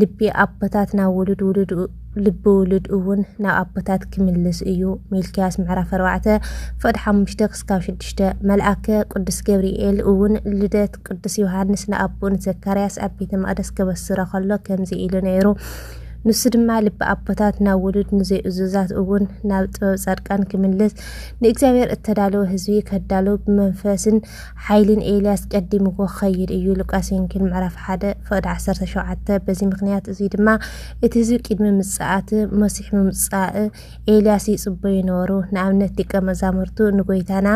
ልቢ ኣቦታት ናብ ውሉድ ውሉድ ልቢ ውሉድ እውን ናብ ኣቦታት ክምልስ እዩ። ሚልክያስ ምዕራፍ ኣርባዕተ ፍቕዲ ሓሙሽተ ክስካብ ሽዱሽተ መልኣከ ቅዱስ ገብርኤል እውን ልደት ቅዱስ ዮሃንስ ንኣቦኡ ንዘካርያስ ኣብ ቤተ መቕደስ ከበስሮ ከሎ ከምዚ ኢሉ ነይሩ ንሱ ድማ ልቢ ኣቦታት ናብ ውሉድ ንዘይእዙዛት እውን ናብ ጥበብ ጻድቃን ክምልስ ንእግዚኣብሔር እተዳለወ ህዝቢ ከዳልው ብመንፈስን ሓይሊ ንኤልያስ ቀዲምዎ ክኸይድ እዩ ሉቃስ ወንጌል ምዕራፍ ሓደ ፍቕዲ ዓሰርተ ሸውዓተ በዚ ምክንያት እዙይ ድማ እቲ ህዝቢ ቅድሚ ምጽኣት መሲሕ ምምጻእ ኤልያስ ይጽበዩ ነበሩ ንኣብነት ዲቀ መዛሙርቱ ንጎይታና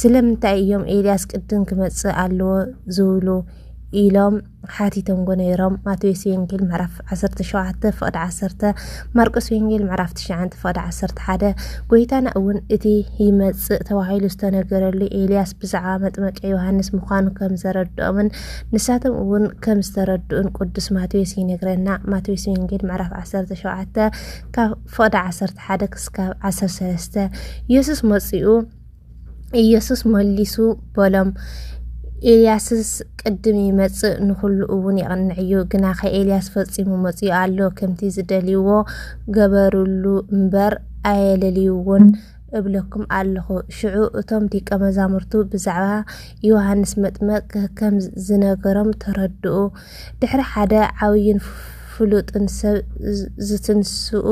ስለምንታይ እዮም ኤልያስ ቅድም ክመጽእ ኣለዎ ዝብሉ ኢሎም ሓቲቶምዎ ነይሮም። ማቴዎስ ወንጌል ምዕራፍ ዓሰርተ ሸውዓተ ፍቕዲ ዓሰርተ፣ ማርቆስ ወንጌል ምዕራፍ ትሽዓንተ ፍቕዲ ዓሰርተ ሓደ፣ ጎይታና እውን እቲ ይመጽእ ተባሂሉ ዝተነገረሉ ኤልያስ ብዛዕባ መጥመቀ ዮሃንስ ምዃኑ ከም ዘረድኦምን ንሳቶም እውን ከም ዝተረድኡን ቅዱስ ማቴዎስ ይነግረና። ማቴዎስ ወንጌል ምዕራፍ ዓሰርተ ሸውዓተ ካብ ፍቕዲ ዓሰርተ ሓደ ክስካብ ዓሰርተ ሰለስተ፣ የሱስ መጺኡ ኢየሱስ መሊሱ በሎም፣ ኤልያስስ ቅድም ይመጽእ ንዅሉ እውን የቕንዕ እዩ። ግናኸ ኤልያስ ፈጺሙ መጺኡ ኣሎ፣ ከምቲ ዝደልይዎ ገበሩሉ እምበር፣ ኣየለልይዎን እብለኩም ኣለኹ። ሽዑ እቶም ደቀ መዛሙርቱ ብዛዕባ ዮሃንስ መጥምቅ ከም ዝነገሮም ተረድኡ። ድሕሪ ሓደ ዓብዩን ፍሉጥን ሰብ ዝትንስኡ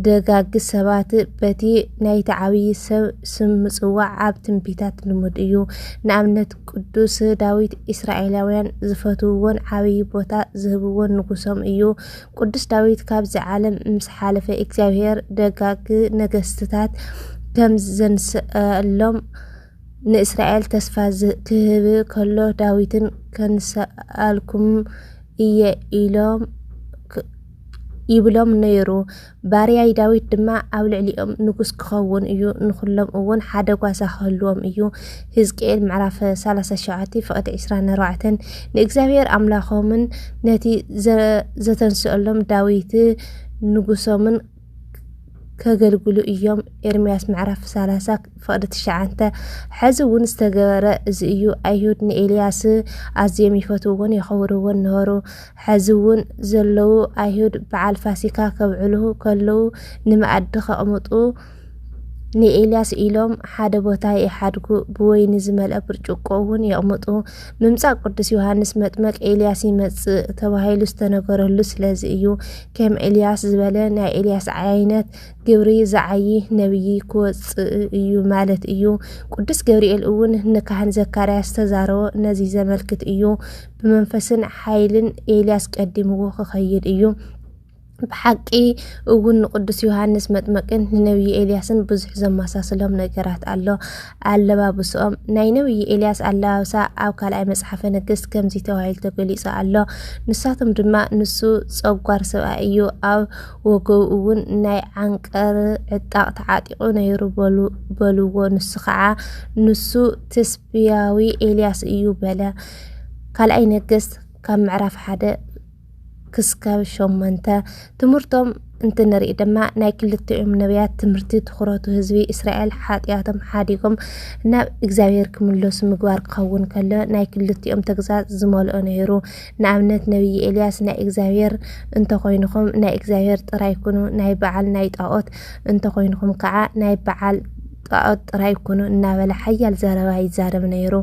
ደጋግ ሰባት በቲ ናይቲ ዓብዪ ሰብ ስም ምጽዋዕ ኣብ ትንቢታት ልሙድ እዩ። ንኣብነት ቅዱስ ዳዊት እስራኤላውያን ዝፈትውዎን ዓብዪ ቦታ ዝህብዎን ንጉሶም እዩ። ቅዱስ ዳዊት ካብዚ ዓለም ምስ ሓለፈ እግዚኣብሔር ደጋግ ነገስትታት ከም ዘንስኣሎም ንእስራኤል ተስፋ ኺህብ ከሎ፣ ዳዊትን ከንስኣልኩም እየ ኢሎም ይብሎም ነይሩ። ባርያይ ዳዊት ድማ ኣብ ልዕሊኦም ንጉስ ክኸውን እዩ፣ ንዅሎም እውን ሓደ ጓሳ ክህልዎም እዩ። ህዝቅኤል ምዕራፍ 37 ፍቕዲ 24 ንእግዚኣብሔር ኣምላኾምን ነቲ ዘተንስኣሎም ዳዊት ንጉሶምን ከገልግሉ እዮም ኤርምያስ ምዕራፍ ሰላሳ ፍቕዲ ትሽዓተ ሕዚ እውን ዝተገበረ እዚ እዩ ኣይሁድ ንኤልያስ ኣዝዮም ይፈትውዎን የኸብርዎን ነበሩ ሕዚ እውን ዘለዉ ኣይሁድ በዓል ፋሲካ ከብዕሉ ከለዉ ንመኣዲ ከቕምጡ ንኤልያስ ኢሎም ሓደ ቦታ ይሓድጉ ብወይኒ ዝመልአ ብርጭቆ እውን የቕምጡ ምምፃእ ቅዱስ ዮሃንስ መጥመቅ ኤልያስ ይመፅእ ተባሂሉ ዝተነገረሉ ስለዚ እዩ ከም ኤልያስ ዝበለ ናይ ኤልያስ ዓይነት ግብሪ ዝዓዪ ነብዪ ክወጽእ እዩ ማለት እዩ። ቅዱስ ገብርኤል እውን ንካህን ዘካርያስ ዝተዛረቦ ነዚ ዘመልክት እዩ። ብመንፈስን ሓይልን ኤልያስ ቀዲምዎ ክኸይድ እዩ። ብሓቂ እውን ንቅዱስ ዮሃንስ መጥመቅን ንነብዪ ኤልያስን ብዙሕ ዘመሳስሎም ነገራት ኣሎ። ኣለባብስኦም ናይ ነብዪ ኤልያስ ኣለባብሳ ኣብ ካልኣይ መጽሓፈ ነገሥት ከምዚ ተባሂሉ ተገሊጹ ኣሎ። ንሳቶም ድማ ንሱ ጸጓር ሰብኣይ እዩ፣ ኣብ ወገቡ እውን ናይ ዓንቀር ዕጣቕ ተዓጢቑ ነይሩ በልዎ። ንሱ ከዓ ንሱ ትስብያዊ ኤልያስ እዩ በለ። ካልኣይ ነገሥት ካብ ምዕራፍ ሓደ ክስካብ ሸሞንተ ትምህርቶም እንትንርኢ ድማ ናይ ክልቲኦም ነቢያት ትምህርቲ ትኹረቱ ህዝቢ እስራኤል ሓጢኣቶም ሓዲጎም ናብ እግዚኣብሔር ክምለሱ ምግባር ክኸውን ከሎ ናይ ክልቲኦም ተግሳጽ ዝመልኦ ነይሩ። ንኣብነት ነቢይ ኤልያስ ናይ እግዚኣብሔር እንተኾይንኹም ናይ እግዚኣብሔር ጥራይ ኩኑ ናይ በዓል ናይ ጣኦት እንተኾይንኹም ከዓ ናይ በዓል ጣዖት ጥራይ ኩኑ እናበለ ሓያል ዘረባ ይዛረብ ነይሩ።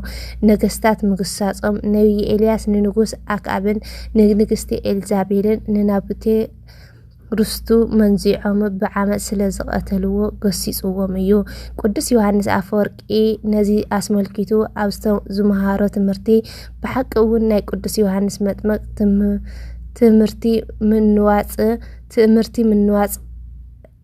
ነገስታት ምግሳጾም፣ ነብዪ ኤልያስ ንንጉስ ኣክኣብን ንንግስቲ ኤልዛቤልን ንናቡቴ ርስቱ መንዚዖም ብዓመጽ ስለ ዝቐተልዎ ገሲጽዎም እዩ። ቅዱስ ዮሃንስ ኣፈወርቂ ነዚ ኣስመልኪቱ ኣብ ዝመሃሮ ትምህርቲ ብሓቂ እውን ናይ ቅዱስ ዮሃንስ መጥመቅ ትምህርቲ ምንዋጽ ትእምርቲ ምንዋጽ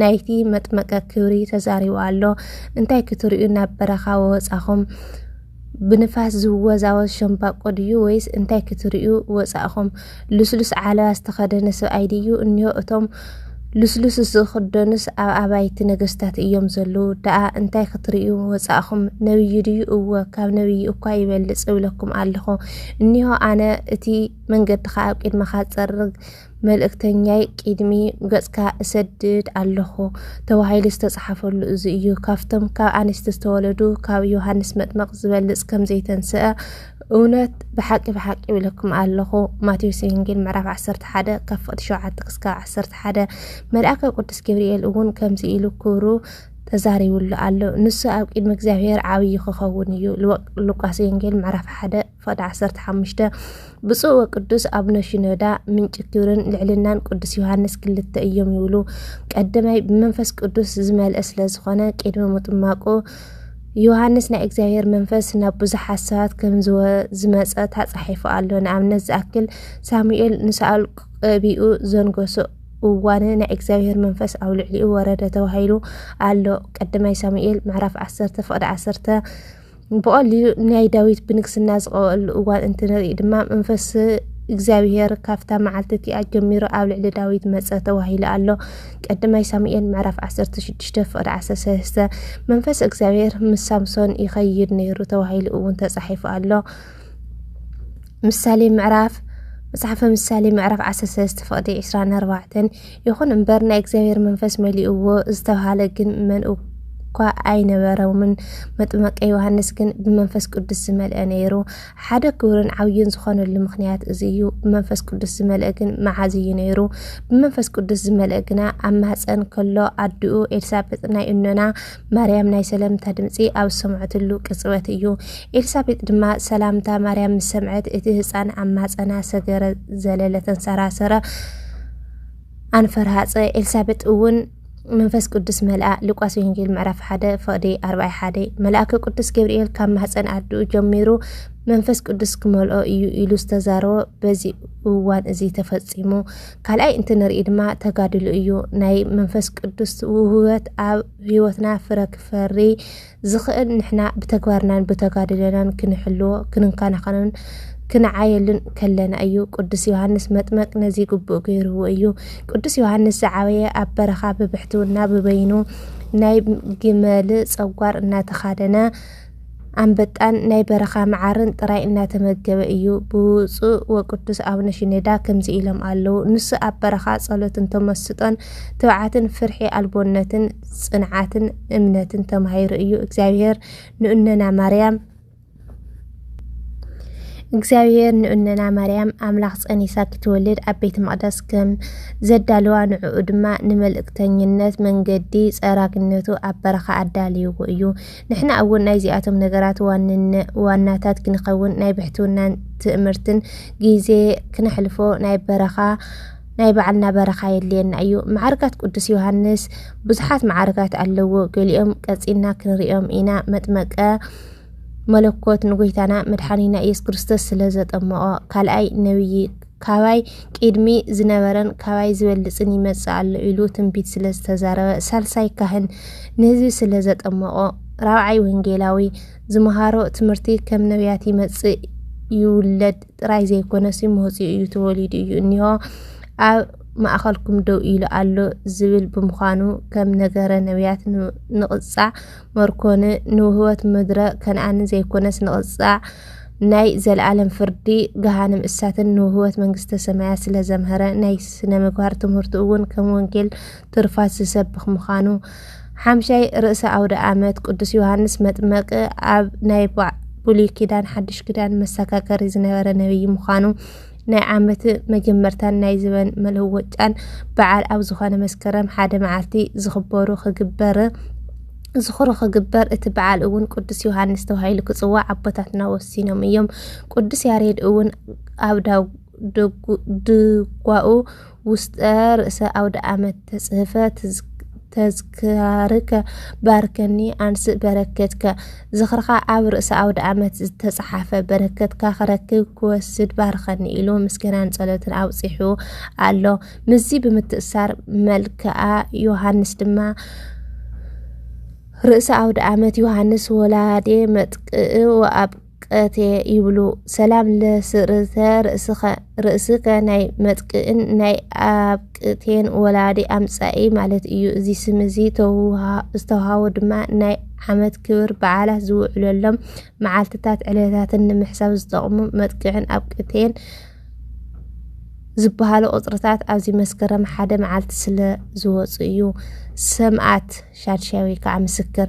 ናይቲ መጥመቀ ክብሪ ተዛሪቡ ኣሎ። እንታይ ክትርእዩ ናብ በረኻ ወጻኹም? ብንፋስ ዝወዛወዝ ሸምባቆ ድዩ ወይስ እንታይ ክትርእዩ ወጻእኹም? ልስሉስ ዓለባ ዝተኸደነ ሰብኣይ ድዩ እኒሆ እቶም ልስሉስ ዝኽደኑስ ኣብ ኣባይቲ ነገስታት እዮም ዘለዉ ደኣ እንታይ ክትርእዩ ወጻእኩም ነብዩ ድዩ እወ ካብ ነብዪ እኳ ይበልጽ እብለኩም ኣለኹ እኒሆ ኣነ እቲ መንገድኻ ኣብ ቅድመኻ ጸርግ መልእክተኛይ ቂድሚ ገጽካ እሰድድ ኣለኹ ተባሂሉ ዝተጻሓፈሉ እዚ እዩ። ካብቶም ካብ ኣንስቲ ዝተወለዱ ካብ ዮሃንስ መጥመቅ ዝበልጽ ከም ዘይተንስአ እውነት ብሓቂ ብሓቂ ይብለኩም ኣለኹ። ማቴዎስ ወንጌል ምዕራፍ 11 ካብ ፍቅዲ 7 ክስካብ 11 መልኣከ ቅዱስ ገብርኤል እውን ከምዚ ኢሉ ክብሩ ተዛሪብሉ ኣሎ። ንሱ ኣብ ቅድሚ እግዚኣብሔር ዓብዪ ክኸውን እዩ። ሉቃስ ወንጌል ምዕራፍ 1 ፈድ ዓሰርተ ሓሙሽተ ብፁዕ ወቅዱስ ኣቡነ ሽኖዳ ምንጪ ክብርን ልዕልናን ቅዱስ ዮሃንስ ክልተ እዮም ይብሉ። ቀደማይ ብመንፈስ ቅዱስ ዝመልአ ስለ ዝኾነ ቅድሚ ምጥማቁ ዮሃንስ ናይ እግዚኣብሔር መንፈስ ናብ ብዙሓት ሰባት ከም ዝመፀ ተፃሒፉ ኣሎ። ንኣብነት ዝኣክል ሳሙኤል ንሳኦል ቀቢኡ ዘንገሶ እዋን ናይ እግዚኣብሔር መንፈስ ኣብ ልዕሊኡ ወረደ ተባሂሉ ኣሎ። ቀደማይ ሳሙኤል ምዕራፍ ዓሰርተ ፍቅዲ ዓሰርተ ብቐሊሉ ናይ ዳዊት ብንግስና ዝቐበኣሉ እዋን እንትንርኢ ድማ መንፈስ እግዚኣብሔር ካብታ መዓልቲ እቲኣ ጀሚሩ ኣብ ልዕሊ ዳዊት መጸ ተባሂሉ ኣሎ። ቀዳማይ ሳሙኤል ምዕራፍ 16 ፍቕዲ 13 መንፈስ እግዚኣብሔር ምስ ሳምሶን ይኸይድ ነይሩ ተባሂሉ እውን ተጻሒፉ ኣሎ። ምሳሌ ምዕራፍ መጽሓፈ ምሳሌ ምዕራፍ 13 ፍቕዲ 24 ይኹን እምበር ናይ እግዚኣብሔር መንፈስ መሊእዎ ዝተብሃለ ግን መን እኳ ኣይነበረምን። መጥመቀ ዮሃንስ ግን ብመንፈስ ቅዱስ ዝመልአ ነይሩ። ሓደ ክብርን ዓብዩን ዝኾነሉ ምክንያት እዚ እዩ። ብመንፈስ ቅዱስ ዝመልአ ግን መዓዝ እዩ ነይሩ? ብመንፈስ ቅዱስ ዝመልአ ግና ኣብ ማህፀን ከሎ ኣድኡ ኤልሳቤጥ ናይ እኖና ማርያም ናይ ሰለምታ ድምፂ ኣብ ዝሰምዐትሉ ቅፅበት እዩ። ኤልሳቤጥ ድማ ሰላምታ ማርያም ምስ ሰምዐት እቲ ህፃን ኣብ ማህፀና ሰገረ፣ ዘለለ፣ ተንሰራሰረ። ኣንፈር ሃጸ ኤልሳቤጥ እውን መንፈስ ቅዱስ መልኣ ሉቃስ ወንጌል ምዕራፍ ሓደ ፈቕዲ ኣርባይ ሓደ መልኣከ ቅዱስ ገብርኤል ካብ ማህፀን ኣድኡ ጀሚሩ መንፈስ ቅዱስ ክመልኦ እዩ ኢሉ ዝተዛረቦ በዚ እዋን እዚ ተፈፂሙ ካልኣይ እንትንርኢ ድማ ተጋድሉ እዩ ናይ መንፈስ ቅዱስ ውህበት ኣብ ህይወትና ፍረ ክፈሪ ዝኸእል ንሕና ብተግባርናን ብተጋድሎናን ክንሕልዎ፣ ክንከናኸኖን ክንዓየሉን ከለና እዩ። ቅዱስ ዮሃንስ መጥመቅ ነዚ ግቡእ ገይርዎ እዩ። ቅዱስ ዮሃንስ ዝዓበየ ኣብ በረኻ ብብሕትውና ብበይኑ ናይ ግመል ጸጓር እናተኻደነ ኣንበጣን ናይ በረኻ መዓርን ጥራይ እናተመገበ እዩ። ብፁዕ ወቅዱስ ኣቡነ ሽኔዳ ከምዚ ኢሎም ኣለዉ። ንሱ ኣብ በረኻ ጸሎትን ተመስጦን ትብዓትን ፍርሒ ኣልቦነትን ጽንዓትን እምነትን ተማሂሩ እዩ እግዚኣብሔር ንእነና ማርያም እግዚኣብሔር ንእነና ማርያም ኣምላኽ ጸኒሳ ክትወልድ ኣብ ቤተ መቕደስ ከም ዘዳለዋ ንዕኡ ድማ ንመልእክተኝነት መንገዲ ጸራግነቱ ኣብ በረኻ ኣዳልይዎ እዩ። ንሕና እውን ናይዚኣቶም ነገራት ዋናታት ክንኸውን ናይ ብሕትውናን ትእምርትን ግዜ ክነሕልፎ ናይ በረኻ ናይ ባዕልና በረኻ የድልየና እዩ። መዓርጋት ቅዱስ ዮሃንስ ብዙሓት መዓርጋት ኣለዎ። ገሊኦም ቀጺና ክንሪኦም ኢና። መጥመቀ መለኮት ንጎይታና መድሓኒና ኢየሱስ ክርስቶስ ስለ ዘጠመቖ፣ ካልኣይ ነብዪ ካባይ ቅድሚ ዝነበረን ካባይ ዝበልጽን ይመጽእ ኣሎ ኢሉ ትንቢት ስለ ዝተዛረበ፣ ሳልሳይ ካህን ንህዝቢ ስለ ዘጠመቖ፣ ራብዓይ ወንጌላዊ ዝመሃሮ ትምህርቲ ከም ነብያት ይመጽእ ይውለድ ጥራይ ዘይኮነሲ መውጽኡ እዩ ተወሊዱ እዩ እኒሆ ኣብ ማእኸልኩም ደው ኢሉ ኣሎ ዝብል ብምዃኑ ከም ነገረ ነቢያት ንቕጻዕ መርኮን ንውህበት ምድረ ከነኣን ዘይኮነስ ንቕጻዕ ናይ ዘለኣለም ፍርዲ ገሃንም እሳትን ንውህበት መንግስተ ሰማያት ስለ ዘምሀረ ናይ ስነ ምግባር ትምህርቱ እውን ከም ወንጌል ትሩፋት ዝሰብኽ ምዃኑ፣ ሓምሻይ ርእሰ ኣውደ ኣመት ቅዱስ ዮሃንስ መጥመቂ ኣብ ናይ ብሉይ ኪዳን ሓዱሽ ኪዳን መሰካከሪ ዝነበረ ነብይ ምዃኑ ናይ ዓመት መጀመርታን ናይ ዝበን መለወጫን በዓል ኣብ ዝኾነ መስከረም ሓደ መዓልቲ ዝኽበሩ ክግበር ዝኽሩ ክግበር እቲ በዓል እውን ቅዱስ ዮሃንስ ተባሂሉ ክፅዋዕ ኣቦታትና ወሲኖም እዮም። ቅዱስ ያሬድ እውን ኣብ ዳው ድጓኡ ውስጠ ርእሰ ኣውደ ኣመት ተጽህፈ ተዝካርከ ባርከኒ ኣንስእ በረከትከ ዝኽርኻ ኣብ ርእሰ ኣውደ ኣመት ዝተጻሓፈ በረከትካ ክረክብ ክወስድ ባርከኒ ኢሉ ምስጋናን ጸሎትን ኣብጺሑ ኣሎ። ምስዚ ብምትእሳር መልክኣ ዮሃንስ ድማ ርእሰ ኣውደ ኣመት ዮሃንስ ወላዴ መጥቅእ ወኣብ ቀትየ ይብሉ ሰላም ለስርተ ርእስከ ርእስከ ናይ መጥቅእን ናይ ኣብቅቴን ወላዲ ኣምጻኢ ማለት እዩ እዚ ስም እዚ ዝተውሃቦ ድማ ናይ ዓመት ክብር በዓላት ዝውዕለሎም መዓልትታት ዕለታትን ንምሕሳብ ዝጠቕሙ መጥቅዕን ኣብቅቴን ዝበሃሉ ቁፅርታት ኣብዚ መስከረም ሓደ መዓልቲ ስለ ዝወፁ እዩ ሰምኣት ሻድሻይ ወይ ከዓ ምስክር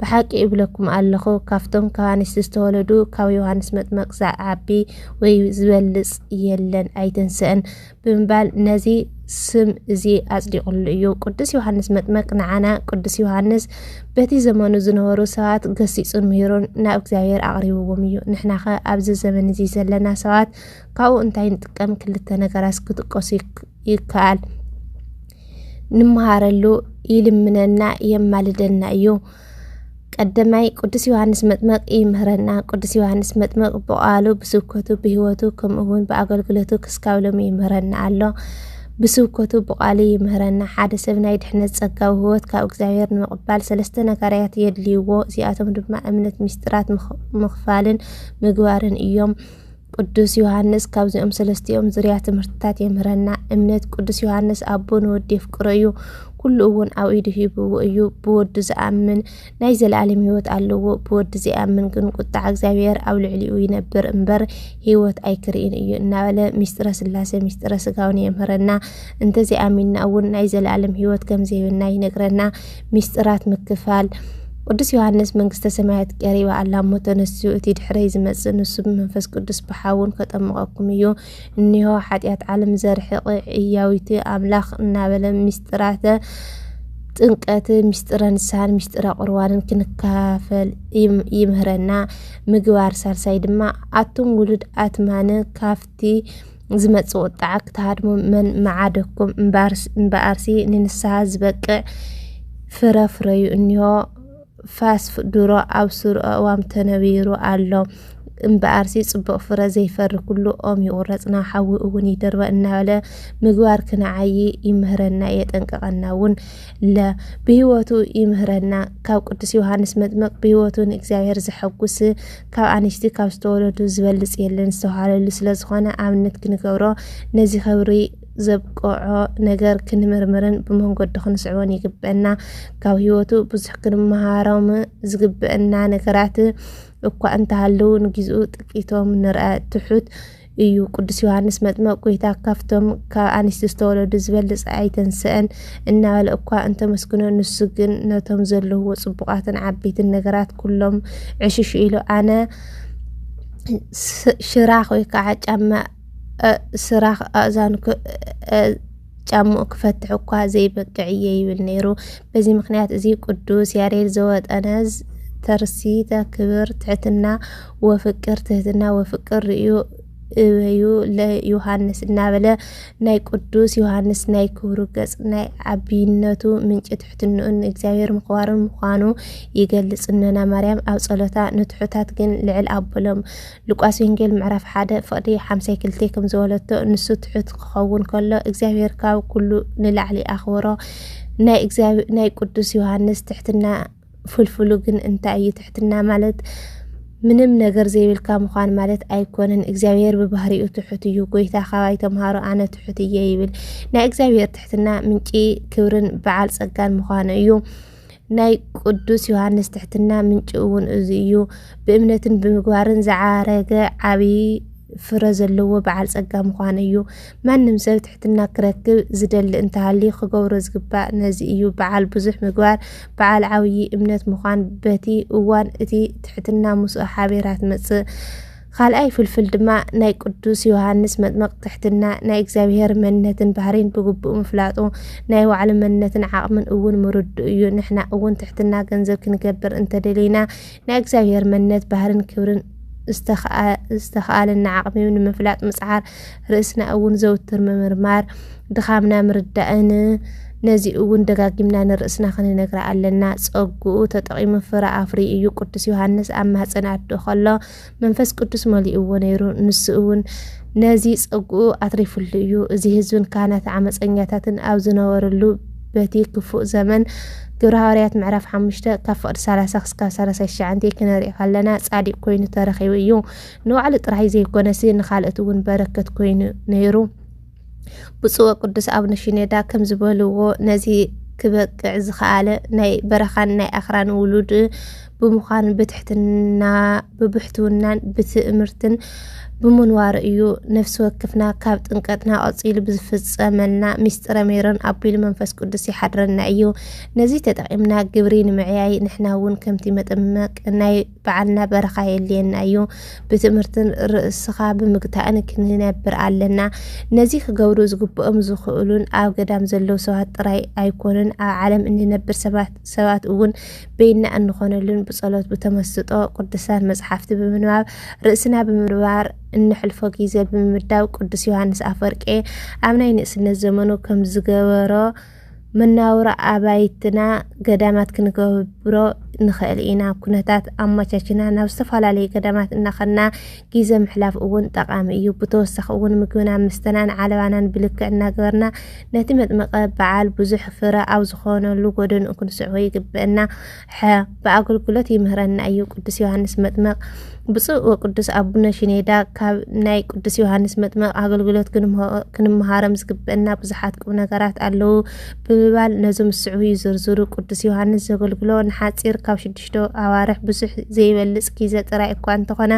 ብሓቂ እብለኩም ኣለኹ፣ ካብቶም ካብ ኣንስቲ ዝተወለዱ ካብ ዮሃንስ መጥመቅ ዝዓቢ ወይ ዝበልጽ የለን፣ ኣይተንሰእን ብምባል ነዚ ስም እዚ ኣጽዲቕሉ እዩ። ቅዱስ ዮሃንስ መጥመቅ ንዓና ቅዱስ ዮሃንስ በቲ ዘመኑ ዝነበሩ ሰባት ገሲጹን ምሂሩን ናብ እግዚኣብሔር ኣቕሪብዎም እዩ። ንሕናኸ ኣብዚ ዘመን እዚ ዘለና ሰባት ካብኡ እንታይ ንጥቀም? ክልተ ነገራት ክትጠቀሱ ይከኣል። ንመሃረሉ ይልምነና የማልደና እዩ። ቀደማይ ቅዱስ ዮሃንስ መጥመቅ ይምህረና። ቅዱስ ዮሃንስ መጥመቅ ብቃሉ ብስብከቱ ብህይወቱ ከምኡ እውን ብኣገልግሎቱ ክስካብ ሎሚ ይምህረና ኣሎ። ብስብከቱ ብቃሉ ይምህረና። ሓደ ሰብ ናይ ድሕነት ጸጋ ህይወት ካብ እግዚኣብሔር ንምቕባል ሰለስተ ነገርያት የድልይዎ። እዚኣቶም ድማ እምነት፣ ምስጢራት ምክፋልን ምግባርን እዮም። ቅዱስ ዮሃንስ ካብዚኦም ሰለስቲኦም ዝርያ ትምህርትታት የምህረና። እምነት ቅዱስ ዮሃንስ ኣቦ ንወዲ የፍቅሮ እዩ፣ ኩሉ እውን ኣብ ኢዱ ሂብዎ እዩ። ብወዱ ዝኣምን ናይ ዘለኣለም ህይወት ኣለዎ፣ ብወዲ ዘይኣምን ግን ቁጣዕ እግዚኣብሔር ኣብ ልዕሊኡ ይነብር እምበር ህይወት ኣይክርኢን እዩ እናበለ ሚስጥረ ስላሴ ሚስጥረ ስጋውን የምህረና። እንተዘይኣሚንና እውን ናይ ዘለኣለም ህይወት ከምዘይብና ይነግረና። ሚስጥራት ምክፋል ቅዱስ ዮሃንስ መንግስተ ሰማያት ቀሪባ ኣላ እሞ ተነስኡ፣ እቲ ድሕረይ ዝመጽእ ንሱ ብመንፈስ ቅዱስ ብሓውን ከጠምቐኩም እዩ፣ እኒሆ ሓጢኣት ዓለም ዘርሕቕ ዕያዊቲ ኣምላኽ እናበለ ምስጢራተ ጥምቀት፣ ምስጢረ ንስሓን ምስጢረ ቁርባንን ክንካፈል ይምህረና። ምግባር ሳልሳይ ድማ ኣቱም ውሉድ ኣትማን ካብቲ ዝመጽእ ቁጥዓ ክትሃድሙ መን መዓደኩም እምበኣርሲ ንንስሓ ዝበቅዕ ፍረ ፍረዩ እኒሆ ፋስ ድሮ ኣብ ሱር ኣእዋም ተነቢሩ ኣሎ እምበኣርሲ ጽቡቕ ፍረ ዘይፈሪ ኩሉ ኦም ይቑረጽ ናብ ሓዊ እውን ይድርበ እናበለ ምግባር ክንዓይ ይምህረና የጠንቅቐና እውን ለ ብህይወቱ ይምህረና ካብ ቅዱስ ዮሃንስ መጥምቅ ብህይወቱ ንእግዚኣብሔር ዘሐጉስ ካብ ኣንሽቲ ካብ ዝተወለዱ ዝበልጽ የለን ዝተባህለሉ ስለ ዝኾነ ኣብነት ክንገብሮ ነዚ ክብሪ ዘብቅዖ ነገር ክንምርምርን ብመንገዱ ክንስዕቦን ይግበአና። ካብ ህይወቱ ብዙሕ ክንመሃሮም ዝግበአና ነገራት እኳ እንተሃለዉ ንግዚኡ ጥቂቶም ንርኣ። ትሑት እዩ ቅዱስ ዮሃንስ መጥመቅ ጎይታ ካብቶም ካብ ኣንስቲ ዝተወለዱ ዝበልፅ ኣይተንስአን እናበለ እኳ እንተመስግኖ ንሱ ግን ነቶም ዘለውዎ ፅቡቃትን ዓበይትን ነገራት ኩሎም ዕሽሽ ኢሉ ኣነ ሽራኽ ወይ ከዓ ጫማ ስራኽ ኣእዛንኩ ጫምኡ ክፈትሕ እኳ ዘይበቅዕ እየ ይብል ነይሩ። በዚ ምክንያት እዚ ቅዱስ ያሬድ ዘወጠነ ተርሲተ ክብር ትሕትና ወፍቅር ትህትና ወፍቅር ርእዩ እበዩ ለዮሃንስ እናበለ ናይ ቅዱስ ዮሃንስ ናይ ክብሩ ገጽ ናይ ዓቢነቱ ምንጪ ትሕትንኡን ንእግዚኣብሔር ምኽባሩን ምዃኑ ይገልጽ። እኖና ማርያም ኣብ ጸሎታ ንትሑታት ግን ልዕል ኣበሎም። ሉቃስ ወንጌል ምዕራፍ ሓደ ፍቕዲ ሓምሳይ ክልቴ ከም ዝበለቶ ንሱ ትሑት ክኸውን ከሎ እግዚኣብሔር ካብ ኩሉ ንላዕሊ ኣኽብሮ ናይ ቅዱስ ዮሃንስ ትሕትና ፍልፍሉ ግን እንታይ እዩ ትሕትና ማለት ምንም ነገር ዘይብልካ ምዃን ማለት ኣይኮነን እግዚኣብሔር ብባህሪኡ ትሑት እዩ ጎይታ ካባይ ተምሃሮ ኣነ ትሑት እየ ይብል ናይ እግዚኣብሔር ትሕትና ምንጪ ክብርን በዓል ጸጋን ምዃኑ እዩ ናይ ቅዱስ ዮሃንስ ትሕትና ምንጪ እውን እዚ እዩ። ብእምነትን ብምግባርን ዝዓረገ ዓብዪ ፍረ ዘለዎ በዓል ጸጋ ምዃኑ እዩ። ማንም ሰብ ትሕትና ክረክብ ዝደሊ እንተሃልዩ ክገብሮ ዝግባእ ነዚ እዩ። በዓል ብዙሕ ምግባር፣ በዓል ዓብዪ እምነት ምዃን በቲ እዋን እቲ ትሕትና ምስኡ ሓቢራ ትመጽእ። ኻልኣይ ፍልፍል ድማ ናይ ቅዱስ ዮሃንስ መጥመቕ ትሕትና፣ ናይ እግዚኣብሔር መንነትን ባህሪን ብግቡእ ምፍላጡ፣ ናይ ባዕሉ መንነትን ዓቕምን እውን ምርድኡ እዩ። ንሕና እውን ትሕትና ገንዘብ ክንገብር እንተደሊና ናይ እግዚኣብሔር መንነት፣ ባህሪን ክብርን ዝተኸኣለና ዓቕሚ ንምፍላጥ ምጽዓር፣ ርእስና እውን ዘውትር ምምርማር፣ ድኻምና ምርዳእን ነዚ እውን ደጋጊምና ንርእስና ክንነግራ ኣለና። ጸግኡ ተጠቒሙ ፍረ ኣፍርዩ እዩ። ቅዱስ ዮሃንስ ኣብ ማህጸን ኣዶ ከሎ መንፈስ ቅዱስ መሊእዎ ነይሩ። ንሱ እውን ነዚ ጸግኡ ኣትሪፍሉ እዩ። እዚ ህዝብን ካህናት ዓመፀኛታትን ኣብ ዝነበርሉ በቲ ክፉእ ዘመን ግብረ ሃዋርያት ምዕራፍ ሓሙሽተ ካብ ፍቕዲ ሰላሳ ክስካብ ሰላሳ ትሽዓንተ ክነርኢ ከለና ጻዲቅ ኮይኑ ተረኺቡ እዩ። ንባዕሉ ጥራይ ዘይኮነሲ ንካልኦት እውን በረከት ኮይኑ ነይሩ። ብፁዕ ወቅዱስ ኣቡነ ሺኖዳ ከምዝበልዎ ነዚ ክበቅዕ ዝኸኣለ ናይ በረኻን ናይ ኣኽራን ውሉድ ብምዃኑ ብብሕትውናን ብትእምርትን ብምንዋሩ እዩ። ነፍሲ ወክፍና ካብ ጥምቀትና ቀጺሉ ብዝፍጸመልና ሚስጥረ ሜሮን ኣቢሉ መንፈስ ቅዱስ ይሓድረና እዩ። ነዚ ተጠቒምና ግብሪ ንምዕያይ ንሕና እውን ከምቲ መጥምቅ ናይ ባዕልና በረኻ የድልየና እዩ። ብትምህርትን ርእስኻ ብምግታእን ክንነብር ኣለና። ነዚ ክገብሩ ዝግብኦም ዝኽእሉን ኣብ ገዳም ዘለዉ ሰባት ጥራይ ኣይኮኑን፣ ኣብ ዓለም እንነብር ሰባት እውን በይና እንኾነሉን ብጸሎት ብተመስጦ ቅዱሳን መጽሓፍቲ ብምንባብ ርእስና ብምንባር እነሕልፎ ግዜ ብምምዳብ ቅዱስ ዮሃንስ ኣፈወርቂ ኣብ ናይ ንእስነት ዘመኑ ከም ዝገበሮ መነባብሮ ኣባይትና ገዳማት ክንገብሮ ንኽእል ኢና። ኩነታት ኣመቻችና ናብ ዝተፈላለዩ ገዳማት እናኸና ግዘ ምሕላፍ እውን ጠቓሚ እዩ። ብተወሳኺ እውን ምግብናን ምስተናን ዓለባናን ብልክዕ እናገበርና ነቲ መጥምቀ በዓል ብዙሕ ፍረ ኣብ ዝኾነሉ ጎደንኡ ክንስዕቦ ይግበእና። ሐ ብኣገልግሎት ይምህረና እዩ ቅዱስ ዮሃንስ መጥመቕ ብፁዕ ወቅዱስ ኣቡነ ሽኔዳ ካብ ናይ ቅዱስ ዮሃንስ መጥመቕ ኣገልግሎት ክንምሃሮም ዝግብአና ብዙሓት ቁም ነገራት ኣለዉ ብምባል ነዞም ዝስዕቡ ይዝርዝሩ ቅዱስ ዮሃንስ ዘገልግሎ ንሓፂር ካብ ሽዱሽተ ኣዋርሕ ብዙሕ ዘይበልፅ ግዜ ጥራይ እኳ እንተኾነ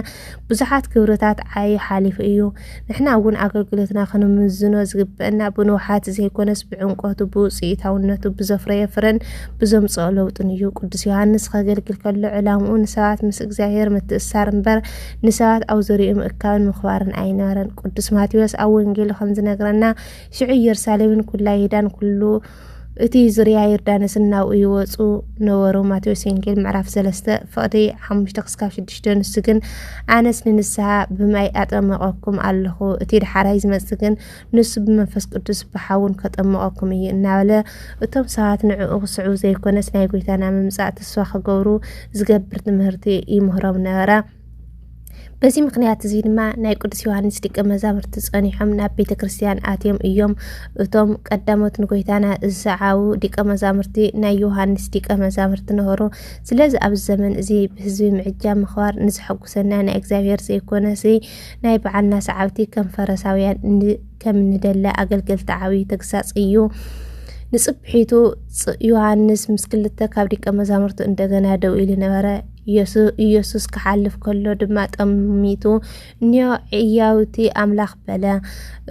ብዙሓት ክብርታት ዓዩ ሓሊፉ እዩ ንሕና እውን ኣገልግሎትና ክንምዝኖ ዝግበአና ብንውሓት ዘይኮነስ ብዕምቆቱ፣ ብውፅኢታውነቱ፣ ብዘፍረዮ ፍረን ብዘምፅኦ ለውጥን እዩ። ቅዱስ ዮሃንስ ከገልግል ከሎ ዕላምኡ ንሰባት ምስ እግዚኣብሔር ምትእሳር እምበር ንሰባት ኣብ ዙሪኡ ምእካብን ምኽባርን ኣይነበረን። ቅዱስ ማቴዎስ ኣብ ወንጌሉ ከምዝነግረና ሽዑ ኢየሩሳሌምን ኩላ ይሁዳን ኩሉ እቲ ዙርያ ዮርዳኖስ እናብኡ ይወፁ ነበሩ። ማቴዎስ ወንጌል ምዕራፍ 3 ፍቕዲ 5-6 ንሱ ግን ኣነስ ንንስሓ ብማይ ኣጠመቐኩም ኣለኹ፣ እቲ ደሓራይ ዝመፅእ ግን ንሱ ብመንፈስ ቅዱስ ብሓውን ከጠመቐኩም እዩ እናበለ እቶም ሰባት ንዕኡ ክስዕቡ ዘይኮነስ ናይ ጎይታና ምምፃእ ተስፋ ክገብሩ ዝገብር ትምህርቲ ይምህሮም ነበረ። በዚ ምክንያት እዚ ድማ ናይ ቅዱስ ዮሃንስ ደቀ መዛሙርቲ ጸኒሖም ናብ ቤተ ክርስቲያን ኣትዮም እዮም። እቶም ቀዳሞት ንጎይታና ዝሰዓቡ ደቀ መዛሙርቲ ናይ ዮሃንስ ደቀ መዛሙርቲ ነበሩ። ስለዚ ኣብዚ ዘመን እዚ ብህዝቢ ምዕጃብ ምኽባር ንዘሐጉሰና ናይ እግዚኣብሔር ዘይኮነስ ናይ በዓልና ሰዓብቲ ከም ፈረሳውያን ከምንደለ ኣገልገልቲ ዓቢ ተግሳጽ እዩ። ንጽብሒቱ ዮሃንስ ምስ ክልተ ካብ ደቀ መዛሙርቱ እንደገና ደው ኢሉ ነበረ። ኢየሱስ ክሓልፍ ከሎ ድማ ጠሚቱ ኒዮ ዕያውቲ ኣምላኽ በለ።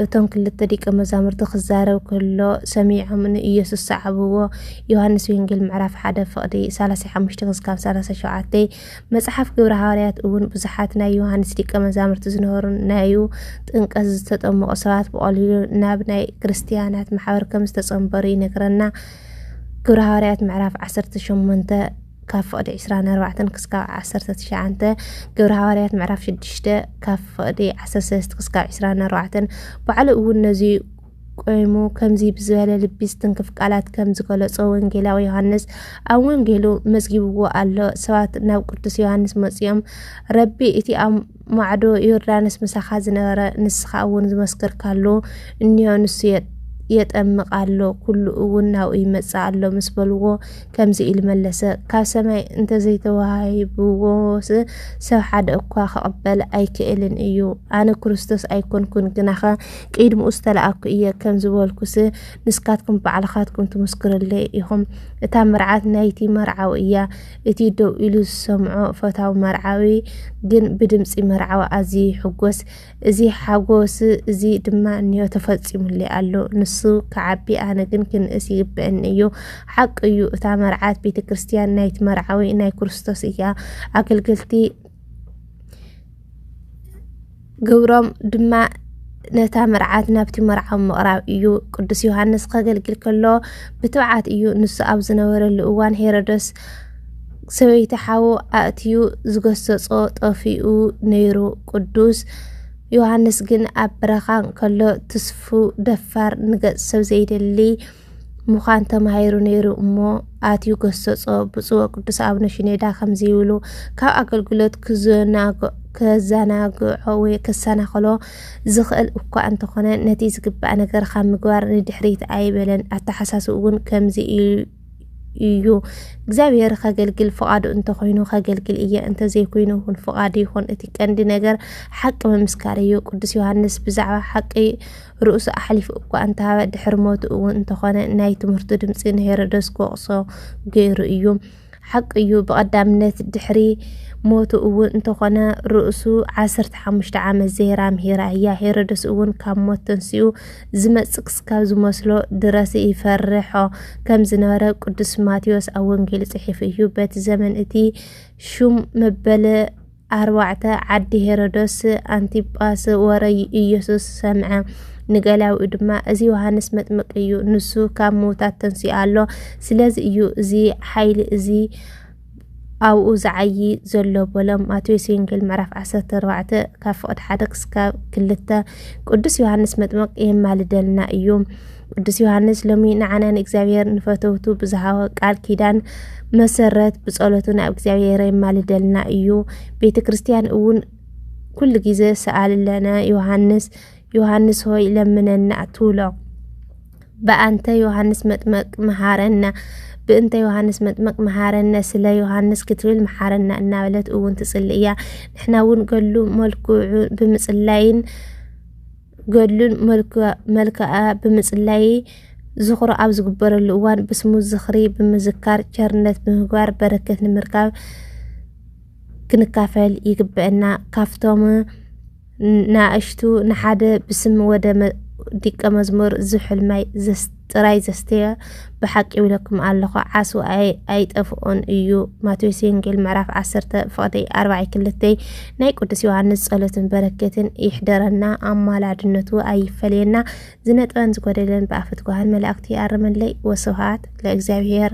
እቶም ክልተ ደቀ መዛሙርቲ ክዛረብ ከሎ ሰሚዖም ንኢየሱስ ሰዓብዎ። ዮሐንስ ወንጌል ምዕራፍ 1 ፍቕዲ 35-37 መጽሓፍ ግብረ ሃዋርያት እውን ብዙሓት ናይ ዮሐንስ ደቀ መዛሙርቲ ዝነበሩ ናዩ ጥንቀት ዝተጠመቑ ሰባት ብቐሊሉ ናብ ናይ ክርስትያናት ማሕበር ከም ዝተጸንበሩ ይነግረና። ግብረ ሃዋርያት ምዕራፍ 18 ካብ ፍቕዲ ዕስራን ኣርባዕተን ክስካብ ዓሰርተ ትሽዓንተ ግብረ ሃዋርያት ምዕራፍ ሽዱሽተ ካብ ፍቕዲ ዓሰርተ ሰለስተ ክስካብ ዕስራን ኣርባዕተን ባዕሉ እውን ነዚ ቆይሙ ከምዚ ብዝበለ ልቢ ዝትንክፍ ቃላት ከም ዝገለጾ ወንጌላዊ ዮሃንስ ኣብ ወንጌሉ መዝጊብዎ ኣሎ። ሰባት ናብ ቅዱስ ዮሃንስ መጺኦም ረቢ እቲ ኣብ ማዕዶ ዮርዳኖስ ምሳኻ ዝነበረ ንስኻ እውን ዝመስከርካሉ እኒሆ ንሱ የጠምቕ ኣሎ ኩሉ እውን ናብኡ ይመጽእ ኣሎ ምስ በልዎ ከምዚ ኢሉ መለሰ ካብ ሰማይ እንተዘይተዋሂብዎስ ሰብ ሓደ እኳ ክቕበል ኣይክእልን እዩ ኣነ ክርስቶስ ኣይኮንኩን ግናኸ ቅድምኡ ዝተላእኩ እየ ከም ዝበልኩስ ንስካትኩም ባዕልኻትኩም ትምስክርለይ ኢኹም እታ መርዓት ናይቲ መርዓዊ እያ እቲ ደው ኢሉ ዝሰምዖ ፈታዊ መርዓዊ ግን ብድምፂ መርዓዊ ኣዝዩ ይሕጎስ። እዚ ሓጎስ እዚ ድማ እንዮ ተፈፂሙለይ ኣሎ። ንሱ ክዓቢ ኣነ ግን ክንእስ ይግበእኒ እዩ። ሓቂ እዩ እታ መርዓት ቤተ ክርስቲያን ናይቲ መርዓዊ ናይ ክርስቶስ እያ። ኣገልገልቲ ግብሮም ድማ ነታ መርዓት ናብቲ መርዓዊ ምቕራብ እዩ። ቅዱስ ዮሃንስ ከገልግል ከሎ ብትብዓት እዩ። ንሱ ኣብ ዝነበረሉ እዋን ሄሮድስ ሰበይቲ ሓዉ ኣእትዩ ዝገሰጾ ጠፊኡ ነይሩ። ቅዱስ ዮሃንስ ግን ኣብ በረኻ ከሎ ትስፉው፣ ደፋር፣ ንገጽ ሰብ ዘይደሊ፣ ምዃን ተማሂሩ ነይሩ እሞ ኣትዩ ገሰጾ። ብፁዕ ወቅዱስ ኣቡነ ሽኔዳ ከምዚ ይብሉ፣ ካብ ኣገልግሎት ከዘናግዖ ወይ ከሰናኽሎ ዝኽእል እኳ እንተኾነ ነቲ ዝግባእ ነገር ካብ ምግባር ንድሕሪት ኣይበለን። ኣተሓሳስብኡ እውን ከምዚ እዩ፣ እግዚኣብሔር ከገልግል ፍቓዱ እንተኾይኑ ከገልግል እየ፣ እንተዘይኮይኑ እውን ፍቓዱ ይኹን፣ እቲ ቀንዲ ነገር ሓቂ ምምስካር እዩ። ቅዱስ ዮሃንስ ብዛዕባ ሓቂ ርእሱ ኣሕሊፉ እኳ እንተሃበ ድሕሪ ሞቱ እውን እንተኾነ ናይ ትምህርቱ ድምፂ ንሄሮዶስ ክወቕሶ ገይሩ እዩ። ሓቂ እዩ ብቐዳምነት ድሕሪ ሞቱ እውን እንተኾነ ርእሱ ዓሰርተ ሓሙሽተ ዓመት ዘይራ ምሂራ እያ ሄሮድስ እውን ካብ ሞት ተንስኡ ዝመፅእ ክስካብ ዝመስሎ ድረስ ይፈርሖ ከም ዝነበረ ቅዱስ ማቴዎስ ኣብ ወንጌሉ ፅሒፉ እዩ በቲ ዘመን እቲ ሹም መበለ ኣርባዕተ፣ ዓዲ ሄሮዶስ ኣንቲጳስ ወረይ ኢየሱስ ሰምዐ። ንገላዊኡ ድማ እዚ ዮሃንስ መጥምቅ እዩ ንሱ ካብ ምውታት ተንሲኡ ኣሎ ስለዚ እዩ እዚ ሓይሊ እዚ ኣብኡ ዝዓዪ ዘሎ በሎ ማቴዎስ ወንጌል ምዕራፍ 14 ካብ ፍቕድ ሓደ ክስካብ ክልተ ቅዱስ ዮሃንስ መጥምቅ የማልደልና እዩ ቅዱስ ዮሃንስ ሎሚ ንዓና ንእግዚኣብሔር ንፈተውቱ ብዝሃወ ቃል ኪዳን መሰረት ብጸሎቱ ናብ እግዚኣብሔር የማልደልና እዩ። ቤተ ክርስቲያን እውን ኩሉ ግዜ ሰኣልለነ ዮሃንስ ዮሃንስ ሆይ ለምነና ትብሎ። በኣንተ ዮሃንስ መጥመቅ መሃረና ብእንተ ዮሃንስ መጥመቅ መሃረነ ስለ ዮሃንስ ክትብል መሓረና እናበለት እውን ትጽሊ እያ። ንሕና እውን ገሉ መልክዑ ብምጽላይን ገድሉን መልክኣ ብምፅላይ ዝኽሩ ኣብ ዝግበረሉ እዋን ብስሙ ዝኽሪ ብምዝካር ቸርነት ብምግባር በረከት ንምርካብ ክንካፈል ይግበእና። ካብቶም ንኣሽቱ ንሓደ ብስም ወደ ዲቀ መዝሙር ዝብ ሕልማይ ዘስተ ጥራይ ዘስተየ ብሓቂ ይብለኩም ኣለኹ ዓስዊ ኣይጠፍኦን እዩ ማቴዎስ ወንጌል ምዕራፍ 10 ፍቕዲ 42 ናይ ቅዱስ ዮሃንስ ጸሎትን በረከትን ይሕደረና ኣማላድነቱ ኣይፈለየና ዝነጥበን ዝጎደለን ብኣፈትጓሃን መላእክቲ ይኣርመለይ ወስብሃት ለእግዚኣብሔር